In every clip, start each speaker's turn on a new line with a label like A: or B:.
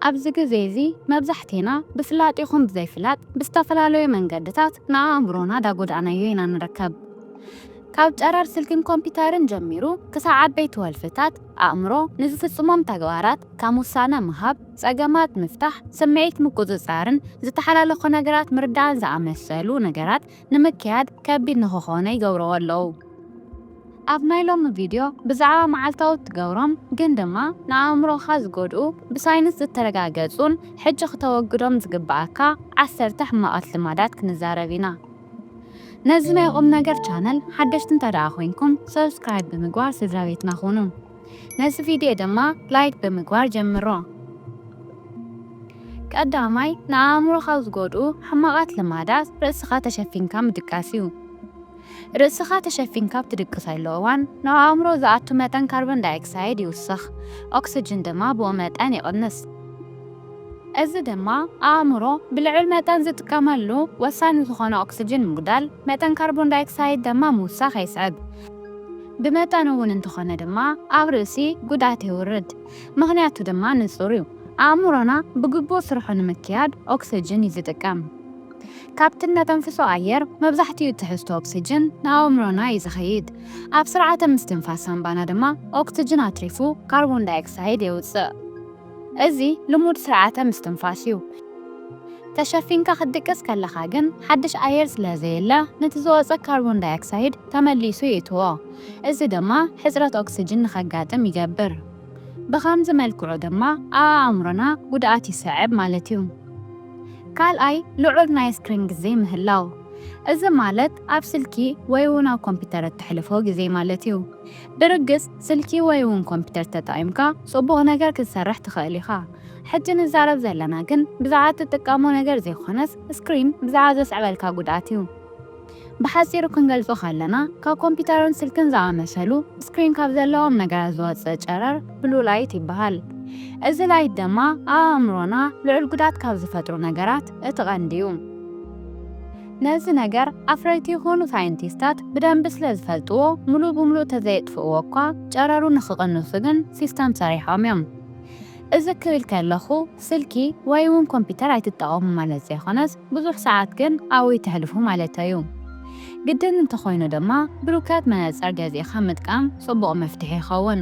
A: ኣብዚ ግዜ እዚ መብዛሕቴና ብፍላጥ ይኹን ብዘይፍላጥ ብዝተፈላለዩ መንገድታት ንኣእምሮና ዳጎዳእናዮ ኢና ንርከብ። ካብ ጨረር ስልኪን ኮምፒተርን ጀሚሩ ክሳዕ ዓበይቲ ወልፍታት ኣእምሮ ንዝፍጽሞም ተግባራት ከም ውሳነ ምሃብ፣ ጸገማት ምፍታሕ፣ ስምዒት ምቁጽጻርን ዝተሓላለኹ ነገራት ምርዳእን ዝኣመሰሉ ነገራት ንምክያድ ከቢድ ንክኾነ ይገብርዎ ኣለዉ። ኣብ ናይ ሎሚ ቪድዮ ብዛዕባ መዓልታዊ እትገብሮም ግን ድማ ንኣእምሮኻ ዝጎድኡ ብሳይንስ ዝተረጋገጹን ሕጂ ክተወግዶም ዝግበኣካ ዓሰርተ ሕማቓት ልማዳት ክንዛረብ ኢና። ነዚ ናይ ቁምነገር ቻነል ሓደሽቲ እንተድኣ ኮይንኩም ሰብስክራይብ ብምግባር ስድራቤትና ኩኑ። ነዚ ቪድዮ ድማ ላይክ ብምግባር ጀምሮ። ቀዳማይ ንኣእምሮ ካብ ዝጎድኡ ሕማቓት ልማዳት ርእስኻ ተሸፊንካ ምድቃስ እዩ። ርእስኻ ተሸፊንካ ኣብ ትድቅሰሉ እዋን ናብ ኣእምሮ ዝኣቱ መጠን ካርቦን ዳይኦክሳይድ ይውስኽ፣ ኦክስጅን ድማ ብኡ መጠን ይቕንስ። እዚ ድማ ኣእምሮ ብልዑል መጠን ዝጥቀመሉ ወሳኒ ዝኾነ ኦክስጅን ምጉዳል፣ መጠን ካርቦን ዳይኦክሳይድ ደማ ምውሳኽ የስዕብ። ብመጠኑ እውን እንተኾነ ድማ ኣብ ርእሲ ጉድኣት የውርድ። ምኽንያቱ ድማ ንጹር እዩ፣ ኣእምሮና ብግቡእ ስርሑ ንምክያድ ኦክስጅን እዩ ዝጥቀም። ካብቲ እነተንፍሶ ኣየር መብዛሕትኡ ትሕዝቶ ኦክስጅን ንኣእምሮና እዩ ዝኸይድ። ኣብ ስርዓተ ምስትንፋስ ሳንባና ድማ ኦክስጅን ኣትሪፉ ካርቦን ዳይኦክሳይድ የውጽእ። እዚ ልሙድ ስርዓተ ምስትንፋስ እዩ። ተሸፊንካ ክትድቅስ ከለኻ ግን ሓድሽ ኣየር ስለ ዘየለ ነቲ ዝወጸ ካርቦን ዳይኦክሳይድ ተመሊሱ የእትዎ። እዚ ድማ ሕጽረት ኦክስጅን ንኸጋጥም ይገብር። ብኸምዚ መልክዑ ድማ ኣብ ኣእምሮና ጉድኣት ይስዕብ ማለት እዩ። ካልኣይ ልዑል ናይ ስክሪን ግዜ ምህላው። እዚ ማለት ኣብ ስልኪ ወይ'ውን ኣብ ኮምፒተር እተሕልፎ ግዜ ማለት እዩ። ብርግጽ ስልኪ ወይ ውን ኮምፒተር ተጠቒምካ ጽቡቕ ነገር ክትሰርሕ ትኽእል ኢኻ። ሕጂ ንዛረብ ዘለና ግን ብዛዕባ እትጥቀሞ ነገር ዘይኮነስ ስክሪን ብዛዕባ ዘስዕበልካ ጉድኣት እዩ። ብሓጺሩ ክንገልጾ ከለና ካብ ኮምፒተርን ስልክን ዝኣመሰሉ ስክሪን ካብ ዘለዎም ነገራት ዝወጽእ ጨረር ብሉ ላይት ይበሃል። እዚ ላይት ደማ ኣብ ኣእምሮና ልዑል ጉድኣት ካብ ዝፈጥሩ ነገራት እቲ ቀንዲ እዩ። ነዚ ነገር ኣፍረይቲ ይኹኑ ሳይንቲስታት ብደንቢ ስለ ዝፈልጥዎ ምሉእ ብምሉእ ተዘየጥፍእዎ እኳ ጨረሩ ንኽቕንሱ ግን ሲስተም ሰሪሖም እዮም። እዚ ክብል ከለኹ ስልኪ ወይ'ውን ኮምፒተር ኣይትጠቐሙ ማለት ዘይኮነስ ብዙሕ ሰዓት ግን ኣብኡ ኣይተሕልፉ ማለተይ እዩ። ግድን እንተኾይኑ ድማ ብሩከት መነጸር ገዚእኻ ምጥቃም ጽቡቕ መፍትሒ ይኸውን።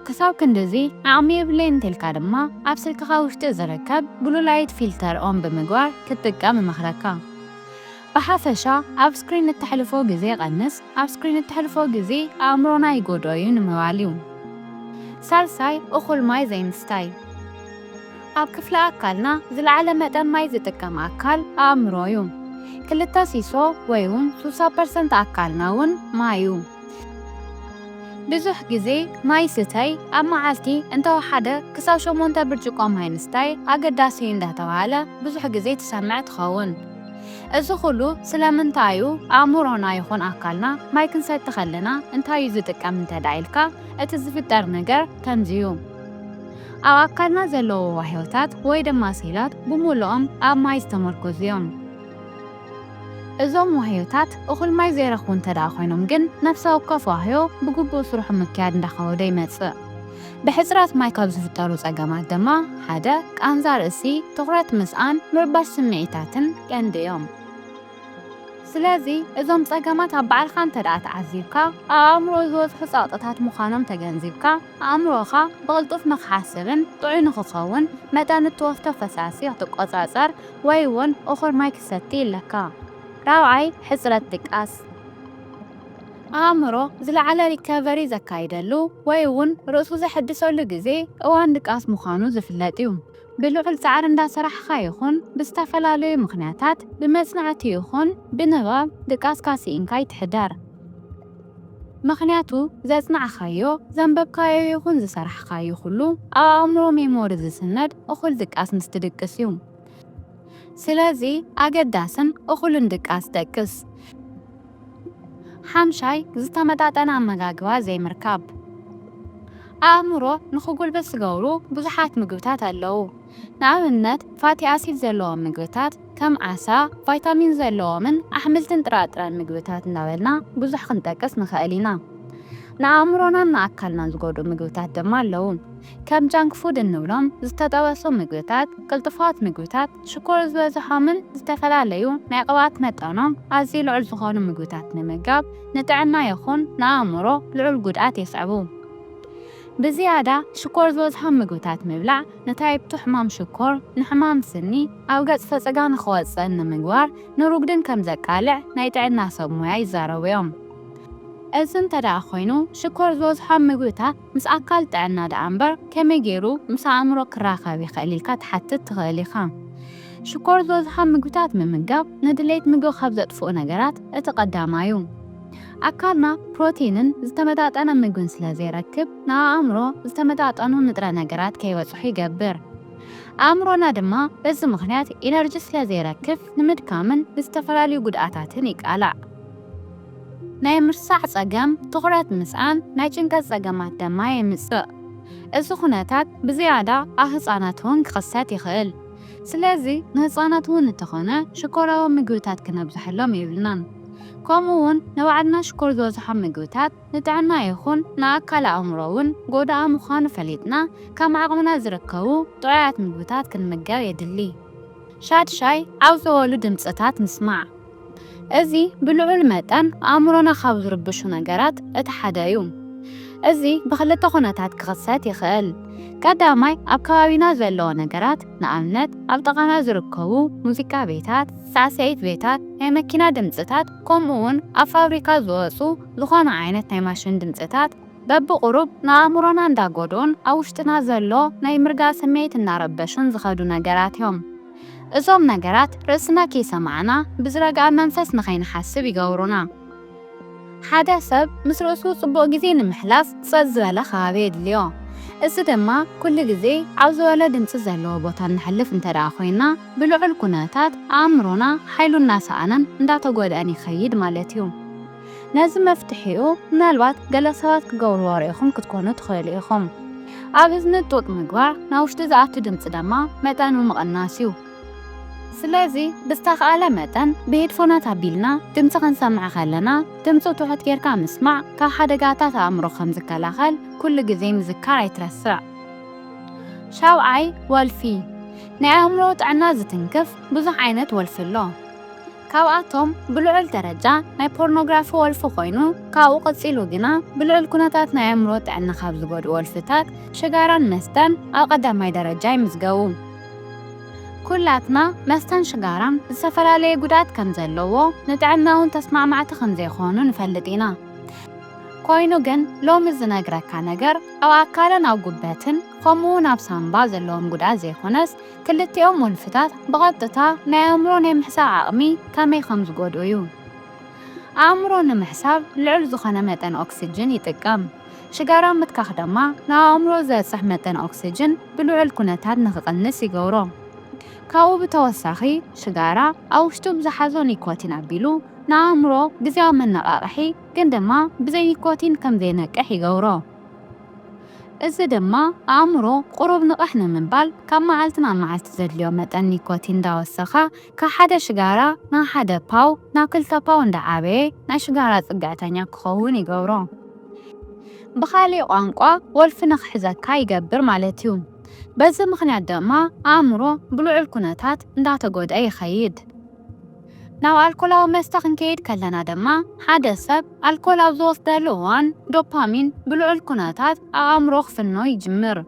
A: ክሳብ ክንድዚ ዓቕሚ የብለይን እንተልካ ድማ ኣብ ስልክኻ ውሽጢ ዝርከብ Blue Light Filter on ብምግባር ክትጥቀም እመኽረካ። ብሓፈሻ ኣብ ስክሪን እተሕልፎ ግዜ ቀንስ፣ ኣብ ስክሪን እተሕልፎ ግዜ ኣእምሮና ይጎድኦ እዩ ንምባል እዩ። ሳልሳይ፣ እኹል ማይ ዘይምስታይ። ኣብ ክፍሊ ኣካልና ዝለዓለ መጠን ማይ ዝጥቀም ኣካል ኣእምሮ እዩ። ክልተ ሲሶ ወይውን ሱሳ ፐርሰንት ኣካልና እውን ማይ እዩ። ብዙሕ ግዜ ማይ ስተይ፣ ኣብ መዓልቲ እንተወሓደ ክሳብ ሸሞንተ ብርጭቆ ማይ ምስታይ ኣገዳሲ እዩ እንዳተባህለ ብዙሕ ግዜ ትሰምዕ ትኸውን። እዚ ኹሉ ስለምንታይ እዩ? ኣእምሮና ይኹን ኣካልና ማይ ክንሰቲ ከለና እንታይ እዩ ዝጥቀም እንተድኣ ኢልካ እቲ ዝፍጠር ነገር ከምዚ እዩ። ኣብ ኣካልና ዘለዉ ዋህዮታት ወይ ድማ ሴላት ብሙሉኦም ኣብ ማይ ዝተመርኮዙ እዮም። እዞም ዋህዮታት እኹል ማይ ዘይረኽቡ እንተድኣ ኮይኖም ግን ነፍሰ ወከፍ ዋህዮ ብግቡእ ስርሑ ምክያድ እንዳኸበዶ ይመጽእ። ብሕጽረት ማይ ካብ ዝፍጠሩ ጸገማት ድማ ሓደ ቃንዛ ርእሲ፣ ትኹረት ምስኣን፣ ምርባሽ ስምዒታትን ቀንዲ እዮም። ስለዚ እዞም ጸገማት ኣብ ባዕልኻ እንተድኣ ተዓዚብካ፣ ኣብ ኣእምሮ ዝወጽሑ ጸቕጥታት ምዃኖም ተገንዚብካ፣ ኣእምሮኻ ብቕልጡፍ ንኽሓስብን ጥዑይ ንኽኸውን መጠን እትወስዶ ፈሳሲ ክትቆጻጸር ወይ ውን እኹል ማይ ክትሰቲ ኣለካ። ራብዓይ፣ ሕጽረት ድቃስ። ኣእምሮ ዝለዓለ ሪከቨሪ ዘካይደሉ ወይ ውን ርእሱ ዘሐድሰሉ ግዜ እዋን ድቃስ ምዃኑ ዝፍለጥ ዩ። ብልዑል ጻዕሪ እንዳሰራሕኻ ይኹን ብዝተፈላለዩ ምኽንያታት ብመጽናዕቲ ይኹን ብንባብ ድቃስካ ስኢንካ ኣይትሕደር። ምኽንያቱ ዘጽናዕካዮ፣ ዘንበብካዮ ይኹን ዝሰራሕካዮ ኩሉ ኣብ ኣእምሮ፣ ሜሞሪ፣ ዝስነድ እኹል ድቃስ ምስ ትድቅስ እዩ። ስለዚ ኣገዳስን እኹልን ድቃስ ደቅስ። ሓምሻይ፣ ዝተመጣጠነ ኣመጋግባ ዘይምርካብ። ኣእምሮ ንኽጉልብት ዝገብሩ ብዙሓት ምግብታት ኣለዉ። ንኣብነት ፋቲ ኣሲድ ዘለዎም ምግብታት ከም ዓሳ፣ ቫይታሚን ዘለዎምን ኣሕምልትን ጥራጥረን ምግብታት እናበልና ብዙሕ ክንጠቅስ ንኸእል ኢና። ንኣእምሮናን ንኣካልናን ዝጎድኡ ምግብታት ድማ ኣለዉ። ከም ጃንክ ፉድ እንብሎም ዝተጠበሱ ምግብታት፣ ቅልጡፋት ምግብታት፣ ሽኮር ዝበዝሖምን ዝተፈላለዩ ናይ ቅብኣት መጠኖም ኣዝዩ ልዑል ዝኾኑ ምግብታት ምምጋብ ንጥዕና ይኹን ንኣእምሮ ልዑል ጉድኣት የስዕቡ። ብዝያዳ ሽኮር ዝበዝሖም ምግብታት ምብላዕ ንታይፕ-ቱ ሕማም ሽኮር፣ ንሕማም ስኒ፣ ኣብ ገጽ ፈጸጋ ንኽወጽእን ንምግባር ንሩጉድን ከም ዘቃልዕ ናይ ጥዕና ሰብ ሞያ ይዛረቡ እዮም። እዚ እንተድኣ ኮይኑ ሽኮር ዝበዝሖም ምግብታት ምስ ኣካል ጥዕና ድኣ እምበር ከመይ ገይሩ ምስ ኣእምሮ ክራኸብ ይኽእል ኢልካ ትሓትት ትኽእል ኢኻ። ሽኮር ዝበዝሖም ምግብታት ምምጋብ ንድሌት ምግቢ ካብ ዘጥፍኡ ነገራት እቲ ቀዳማዩ። ኣካልና ፕሮቲንን ዝተመጣጠነ ምግብን ስለ ዘይረክብ፣ ንኣእምሮ ዝተመጣጠኑ ንጥረ ነገራት ከይበጽሑ ይገብር። ኣእምሮና ድማ በዚ ምኽንያት ኢነርጂ ስለ ዘይረክብ ንምድካምን ንዝተፈላለዩ ጉድኣታትን ይቃላዕ። ናይ ምርሳዕ ጸገም፣ ትኹረት ምስኣን፣ ናይ ጭንቀት ጸገማት ደማ የምጽእ። እዚ ኩነታት ብዝያዳ ኣብ ህጻናት እውን ክኽሰት ይኽእል። ስለዚ ንህጻናት እውን እንተኾነ ሽኮራዊ ምግብታት ክነብዝሐሎም የብልናን። ከምኡ ውን ንባዕልና ሽኮር ዝበዝሖም ምግብታት ንጥዕና ይኹን ንኣካለ ኣእምሮ ውን ጎዳኢ ምዃኑ ፈሊጥና ከም ዓቕምና ዝርከቡ ጥዑያት ምግብታት ክንምገብ የድሊ። ሻድሻይ፣ ዓው ዘበሉ ድምጽታት ምስማዕ። እዚ ብልዑል መጠን ኣእምሮና ካብ ዝርብሹ ነገራት እቲ ሓደ ዩ። እዚ ብኽልተ ኩነታት ክኽሰት ይኽእል። ቀዳማይ ኣብ ከባቢና ዘለዎ ነገራት ንኣብነት ኣብ ጥቓና ዝርከቡ ሙዚቃ ቤታት፣ ሳዕስዒት ቤታት፣ ናይ መኪና ድምጽታት ከምኡ'ውን ኣብ ፋብሪካ ዝወጹ ዝኾነ ዓይነት ናይ ማሽን ድምጽታት በብቑሩብ ንኣእምሮና እንዳጎድኡን ኣብ ውሽጥና ዘሎ ናይ ምርጋእ ስምዒት እንዳረበሹን ዝኸዱ ነገራት እዮም። እዞም ነገራት ርእስና ከይሰማዕና ብዝረግኣ መንፈስ ንኸይንሓስብ ይገብሩና። ሓደ ሰብ ምስ ርእሱ ጽቡቕ ግዜ ንምሕላፍ ጸጥ ዝበለ ከባቢ የድልዮ። እዚ ድማ ኩሉ ግዜ ኣብ ዝበሎ ድምጺ ዘለዎ ቦታ እንሕልፍ እንተድኣ ኮይና ብልዑል ኩነታት ኣእምሮና ሓይሉ እናሰኣነን እንዳተጎድኣን ይኸይድ ማለት እዩ። ነዚ መፍትሒኡ ምናልባት ገለ ሰባት ክገብርዎ ርኢኹም ክትኮኑ ትኽእሉ ኢኹም። ኣብ እዝኒ ጡጥ ምግባር፣ ናብ ውሽጢ ዝኣቱ ድምጺ ደማ መጠኑ ምቕናስ እዩ። ስለዚ ብዝተኻእለ መጠን ብሄድፎናት ኣቢልና ድምጺ ክንሰምዕ ከለና ድምጹ ትሑት ጌርካ ምስማዕ ካብ ሓደጋታት ኣእምሮ ከም ዝከላኸል ኩሉ ግዜ ምዝካር ኣይትረስዕ። ሻውዓይ፣ ወልፊ ናይ ኣእምሮ ጥዕና ዝትንክፍ ብዙሕ ዓይነት ወልፊ ኣሎ። ካብኣቶም ብልዑል ደረጃ ናይ ፖርኖግራፊ ወልፊ ኮይኑ ካብኡ ቀጺሉ ግና ብልዑል ኩነታት ናይ ኣእምሮ ጥዕና ካብ ዝጎድኡ ወልፍታት ሽጋራን መስተን ኣብ ቀዳማይ ደረጃ ይምዝገቡ። ኩላትና መስተን ሽጋራን ዝተፈላለየ ጉድኣት ከም ዘለዎ፣ ንጥዕና እውን ተስማዕማዕቲ ከም ዘይኮኑ ንፈልጥ ኢና። ኮይኑ ግን ሎሚ ዝነግረካ ነገር ኣብ ኣካልን ኣብ ጉበትን ከምኡ እውን ኣብ ሳንባ ዘለዎም ጉድኣት ዘይኮነስ ክልቲኦም ወልፍታት ብቐጥታ ናይ ኣእምሮ ናይ ምሕሳብ ዓቕሚ ከመይ ከም ዝጎድኡ እዩ። ኣእምሮ ንምሕሳብ ልዑል ዝኾነ መጠን ኦክስጅን ይጥቀም። ሽጋራ ምትካኽ ደማ ንኣእምሮ ዘብጽሕ መጠን ኦክስጅን ብልዑል ኩነታት ንክቕንስ ይገብሮ። ካብኡ ብተወሳኺ ሽጋራ ኣብ ውሽጡ ብዝሓዞ ኒኮቲን ኣቢሉ ንኣእምሮ ግዝያዊ መነቓቕሒ ግን ድማ ብዘይ ኒኮቲን ከም ዘይነቅሕ ይገብሮ። እዚ ድማ ኣእምሮ ቁሩብ ንቕሕ ንምባል ካብ መዓልቲ ናብ መዓልቲ ዘድልዮ መጠን ኒኮቲን እንዳወሰኸ ካብ ሓደ ሽጋራ ናብ ሓደ ፓው ናብ ክልተ ፓው እንዳዓበየ ናይ ሽጋራ ጽግዕተኛ ክኸውን ይገብሮ። ብኻሊእ ቋንቋ ወልፊ ንክሕዘካ ይገብር ማለት እዩ። በዚ ምኽንያት ደማ ኣእምሮ ብልዑል ኩነታት እንዳተጎድኣ ይኸይድ። ናብ ኣልኮላዊ መስተ ክንከይድ ከለና ደማ ሓደ ሰብ ኣልኮል ኣብ ዝወስደሉ እዋን ዶፓሚን ብልዑል ኩነታት ኣብ ኣእምሮ ክፍኖ ይጅምር።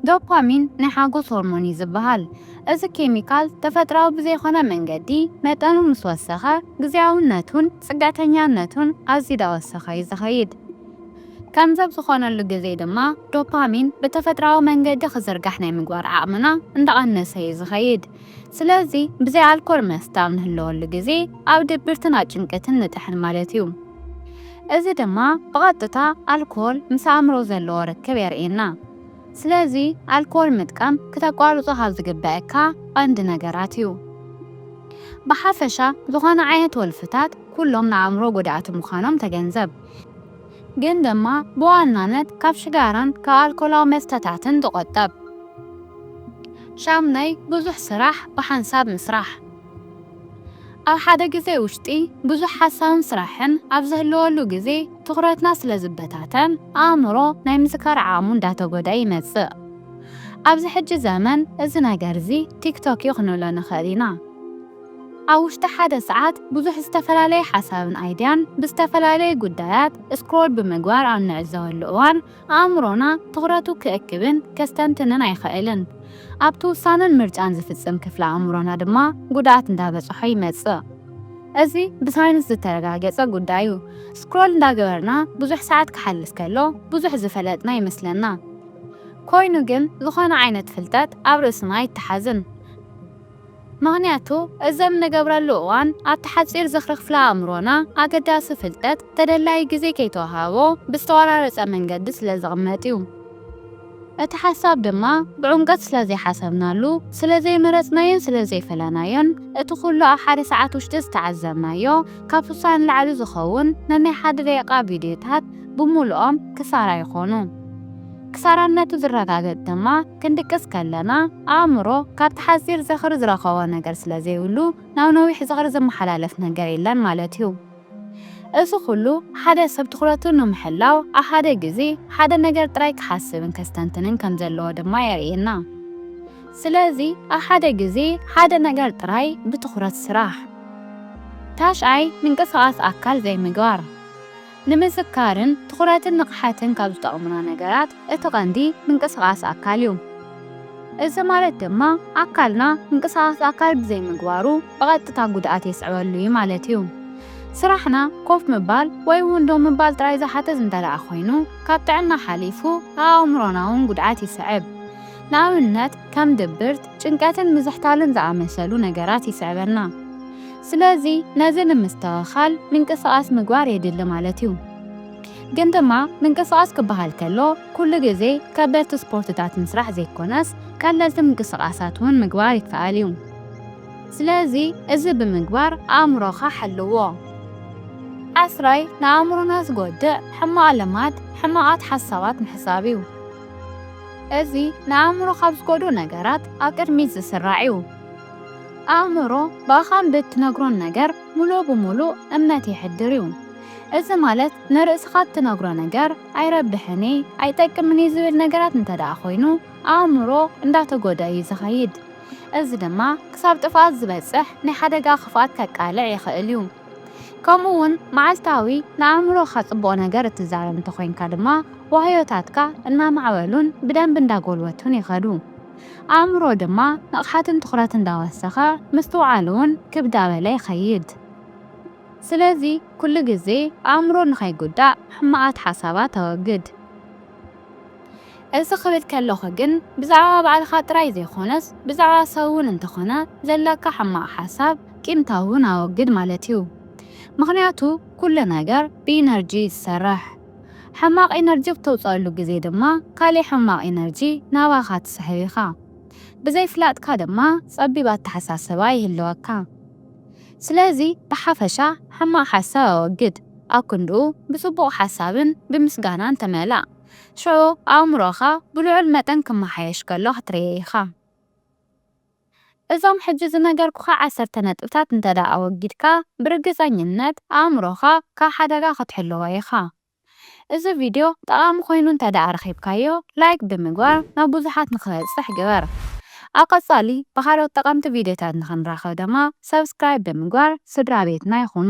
A: ዶፓሚን ናይ ሓጎስ ሆርሞን እዩ ዝብሃል። እዚ ኬሚካል ተፈጥራዊ ብዘይኮነ መንገዲ መጠኑ ምስ ወሰኸ ግዝያውነቱን፣ ጽገተኛነቱን ኣዝዩ ዳወሰኸ እዩ ዝኸይድ። ከምዚ ኣብ ዝኾነሉ ግዜ ድማ ዶፓሚን ብተፈጥራዊ መንገዲ ክዝርጋሕ ናይ ምግባር ዓቕምና እንዳቐነሰ እዩ ዝኸይድ። ስለዚ ብዘይ ኣልኮል መስተ ኣብ ንህለወሉ ግዜ ኣብ ድብርትን ኣብ ጭንቀትን ንጥሕን ማለት እዩ። እዚ ድማ ብቐጥታ ኣልኮል ምስ ኣእምሮ ዘለዎ ርክብ የርእየና። ስለዚ ኣልኮል ምጥቃም ክተቋርጾ ካብ ዝግበኣካ ቀንዲ ነገራት እዩ። ብሓፈሻ ዝኾነ ዓይነት ወልፍታት ኩሎም ንኣእምሮ ጎዳእቲ ምዃኖም ተገንዘብ። ግን ድማ ብዋናነት ካብ ሽጋራን ካብ ኣልኮላዊ መስተታትን ተቖጠብ። ሻምናይ፣ ብዙሕ ስራሕ ብሓንሳብ ምስራሕ። ኣብ ሓደ ግዜ ውሽጢ ብዙሕ ሓሳብን ስራሕን ኣብ ዝህልወሉ ግዜ ትኹረትና ስለ ዝበታተን ኣእምሮ ናይ ምዝካር ዓቕሙ እንዳተጎድኣ ይመጽእ። ኣብዚ ሕጂ ዘመን እዚ ነገርዚ ቲክቶክ'ዩ ክንብሎ ንኽእል ኢና። ኣብ ውሽጢ ሓደ ሰዓት ብዙሕ ዝተፈላለየ ሓሳብን ኣይድያን ብዝተፈላለዩ ጉዳያት ስክሮል ብምግባር ኣብ ንዕዘበሉ እዋን፣ ኣእምሮና ትኹረቱ ክእክብን ከስተንትንን ኣይኸእልን። ኣብቲ ውሳነን ምርጫን ዝፍጽም ክፍሊ ኣእምሮና ድማ ጉድኣት እንዳበጽሖ ይመጽእ። እዚ ብሳይንስ ዝተረጋገጸ ጉዳይ'ዩ። ስክሮል እንዳገበርና ብዙሕ ሰዓት ክሓልፍ ከሎ ብዙሕ ዝፈለጥና ይመስለና። ኮይኑ ግን ዝኾነ ዓይነት ፍልጠት ኣብ ርእስና ኣይተሓዝን። ምኽንያቱ እዘም ንገብረሉ እዋን ኣብቲ ሓጺር ዝኽሪ ክፍለ ኣእምሮና ኣገዳሲ ፍልጠት ተደላዪ ግዜ ከይተወሃቦ ብዝተቆራረጸ መንገዲ ስለ ዝቕመጥ እዩ። እቲ ሓሳብ ድማ ብዑምቀት ስለ ዘይሓሰብናሉ፣ ስለ ዘይመረጽናዮን ስለ ዘይፈለናዮን እቲ ኩሉ ኣብ ሓደ ሰዓት ውሽጢ ዝተዓዘብናዮ ካብ ስሳ ንላዕሊ ዝኸውን ነናይ ሓደ ደቂቓ ቪድዮታት ብሙሉኦም ክሳራ ይኾኑ። ክሳራነቱ ዝረጋገጽ ድማ ክንድቅስ ከለና፣ ኣእምሮ ካብቲ ሓጺር ዝኽሪ ዝረኸቦ ነገር ስለ ዘይብሉ፣ ናብ ነዊሕ ዝኽሪ ዝመሓላለፍ ነገር የለን ማለት እዩ። እዚ ኹሉ፣ ሓደ ሰብ ትኹረቱ ንምሕላው ኣብ ሓደ ግዜ ሓደ ነገር ጥራይ ክሓስብን ከስተንትንን ከም ዘለዎ ድማ የርእየና። ስለዚ ኣብ ሓደ ግዜ ሓደ ነገር ጥራይ ብትኹረት ስራሕ። ታሽዓይ፣ ምንቅስቓስ ኣካል ዘይምግባር። ንምዝካርን ትኹረትን ንቕሓትን ካብ ዝጠቕሙና ነገራት እቲ ቀንዲ ምንቅስቓስ ኣካል እዩ። እዚ ማለት ድማ ኣካልና ምንቅስቓስ ኣካል ብዘይምግባሩ ብቐጥታ ጉድኣት የስዕበሉ እዩ ማለት እዩ። ስራሕና ኮፍ ምባል ወይ እውን ደው ምባል ጥራይ ዝሓትት እንተድኣ ኮይኑ ካብ ጥዕና ሓሊፉ ኣኣእምሮና'ውን ጉድኣት ይስዕብ። ንኣብነት ከም ድብርት፣ ጭንቀትን ምዝሕታልን ዝኣመሰሉ ነገራት ይስዕበና። ስለዚ ነዚ ንምስትኸኻል ምንቅስቓስ ምግባር የድሊ ማለት እዩ። ግን ድማ ምንቅስቓስ ክበሃል ከሎ ኩሉ ግዜ ከበድቲ ስፖርትታት ምስራሕ ዘይኮነስ ቀለልቲ ምንቅስቓሳት እውን ምግባር ይከኣል እዩ። ስለዚ እዚ ብምግባር ኣእምሮኻ ሓልዎ። ዓስራይ ንኣእምሮና ዝጎድእ ሕማቕ ልማድ ሕማቓት ሓሳባት ምሕሳብ እዩ። እዚ ንኣእምሮ ካብ ዝጎድኡ ነገራት ኣብ ቅድሚት ዝስራዕ'ዩ። ኣእምሮ ብኣኻ ብእትነግሮን ነገር ምሉእ ብምሉእ እምነት የሕድር'ዩ። እዚ ማለት ንርእስኻ እትነግሮ ነገር ኣይረብሕን'የ፣ ኣይጠቅምን'የ ዝብል ነገራት እንተድኣ ኮይኑ ኣእምሮ እንዳተጎድኣ'ዩ ዝኸይድ። እዚ ድማ ክሳብ ጥፍኣት ዝበጽሕ ናይ ሓደጋ ክፍኣት ከቃልዕ ይኽእል'ዩ። ከምኡ'ውን መዓልታዊ ንኣእምሮኻ ጽቡቕ ነገር እትዛረብ እንተኾይንካ ድማ ዋህዮታትካ እናማዕበሉን ብደንቢ እንዳጎልበቱን ይኸዱ። ኣእምሮ ድማ ንቕሓትን ትኹረት እንዳወሰኸ ምስትውዓል'ውን ክብ ዳበለ ይኸይድ። ስለዚ ኩሉ ግዜ ኣእምሮ ንኸይጉዳእ ሕማቓት ሓሳባት ኣወግድ። እዚ ክብል ከለኹ ግን ብዛዕባ ባዕልኻ ጥራይ ዘይኮነስ ብዛዕባ ሰብ እውን እንተኾነ ዘለካ ሕማቕ ሓሳብ፣ ቂምታ፣ እውን ኣወግድ ማለት እዩ። ምኽንያቱ ኩሉ ነገር ብኢነርጂ እዩ ዝሰርሕ። ሕማቕ ኢነርጂ ብተውጸኣሉ ግዜ ድማ ካሊእ ሕማቕ ኢነርጂ ናባኻ ትስሕብ ኢኻ። ብዘይፍላጥካ ድማ ጸቢብ ኣተሓሳስባ ይህልወካ። ስለዚ ብሓፈሻ ሕማቕ ሓሳብ ኣወግድ፣ ኣብ ክንድኡ ብጽቡቕ ሓሳብን ብምስጋናን ተመላእ። ሽዑ ኣእምሮኻ ብልዑል መጠን ክመሓየሽ ከሎ ክትርእዮ ኢኻ። እዞም ሕጂ ዝነገርኩኻ ዓሰርተ ነጥብታት እንተድኣ ኣወጊድካ፣ ብርግጸኝነት ኣእምሮኻ ካብ ሓደጋ ክትሕልዎ ኢኻ። እዚ ቪድዮ ጠቓሚ ኮይኑ እንተድኣ ረኺብካዮ፣ ላይክ ብምግባር ናብ ብዙሓት ንኽበጽሕ ግበር። ኣብ ቀጻሊ ብኻልኦት ጠቐምቲ ቪድዮታት ንኽንራኸብ ድማ፣ ሰብስክራይብ ብምግባር ስድራቤትና ይኹኑ።